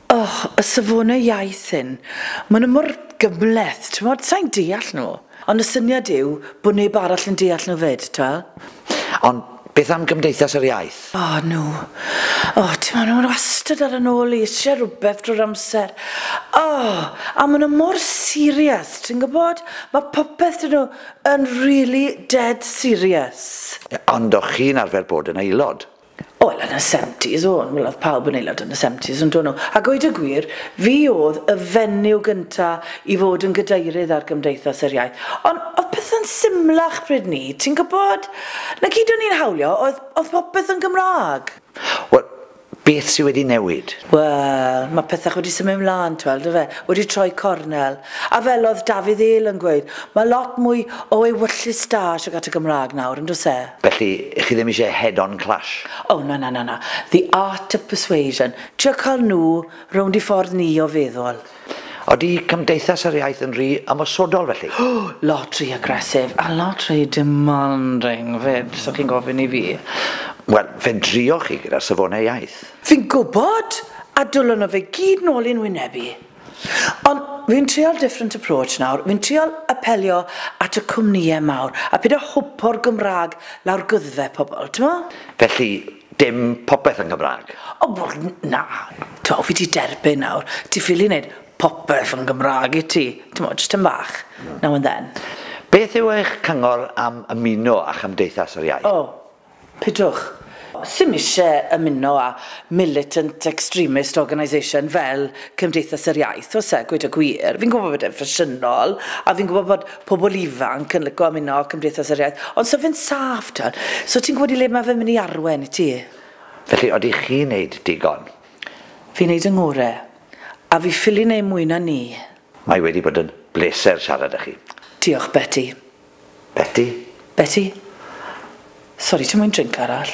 Oh, y safonau iaith hyn. Maen nhw mor gymhleth, t'mod, sa'n deall nhw. Ond y syniad yw bod neb arall yn deall nhw 'fyd, t'mo'? Ond beth am Gymdeithas yr Iaith? O, nhw. O, t'mo', nhw wastad ar 'yn ôl i, isie rhywbeth drwy'r amser. O! A maen nhw mor serious, ti'n gwybod? Mae popeth 'da nhw. Yn really dead serious. Ond o'ch chi'n arfer bod yn aelod? Wel yn y seventies o'n, wel oedd pawb yn aelod yn y seventies yn do' nhw? A gweud y gwir, fi oedd y fenyw gynta' i fod yn gadeirydd ar Gymdeithas yr Iaith. Ond oedd pethau'n symlach pryd 'ny, ti'n gwybod? 'Na gyd o'n i'n hawlio oedd oedd popeth yn Gymraeg. Wel, Beth sydd wedi newid? Wel, mae pethau wedi symud mlaen, ti weld, yndyfe? Wedi troi cornel. A fel oedd Dafydd Eel yn gweud, mae lot mwy o ewyllys da tuag at y Gymraeg nawr, yn does e? Felly, chi ddim eisiau head-on clash? O, na, na, na, na. The art of persuasion. Trio cael nhw rownd i ffordd ni o feddwl. Odi Cymdeithas yr Iaith yn rhy ymosodol felly? O! Lot rhy aggressive a lot rhy demanding 'fyd, so chi'n gofyn i fi. Wel, fe drioch chi gyda'r safonau iaith. Fi'n gwybod! A dwlon o fe gyd nôl i'n wyneb i. Ond fi'n trial different approach nawr, fi'n trial apelio at y cwmnïau mawr a peidio hwpo'r Gymraeg lawr gwddfe pobl, timod? Felly, Dim popeth yn Gymraeg. O wel na, t'mo' o fi 'di derbyn nawr, ti ffili neud popeth yn Gymraeg i ti, t'mo' jyst tym bach, now and then. Beth yw eich cyngor am ymuno â Chymdeithas yr Iaith? O, pidwch. Sim isie ymuno â militant extremist organisation fel Cymdeithas yr Iaith, oes e, gweud y gwir. Fi'n gwbo bod e'n ffasiynol, a fi'n gwbo bod pobl ifanc yn lico ymuno â Cymdeithas yr Iaith, ond so fe'n saff, t'wod. So ti'n gwybod i le mae fe'n mynd i arwain, i ti? Felly, odi chi'n neud digon? Fi'n neud 'y ngore. A fi ffili neud mwy na 'ny. Mae wedi bod yn bleser siarad â chi. Diolch, Beti. Beti? Beti? Sori, ti moyn drinc arall?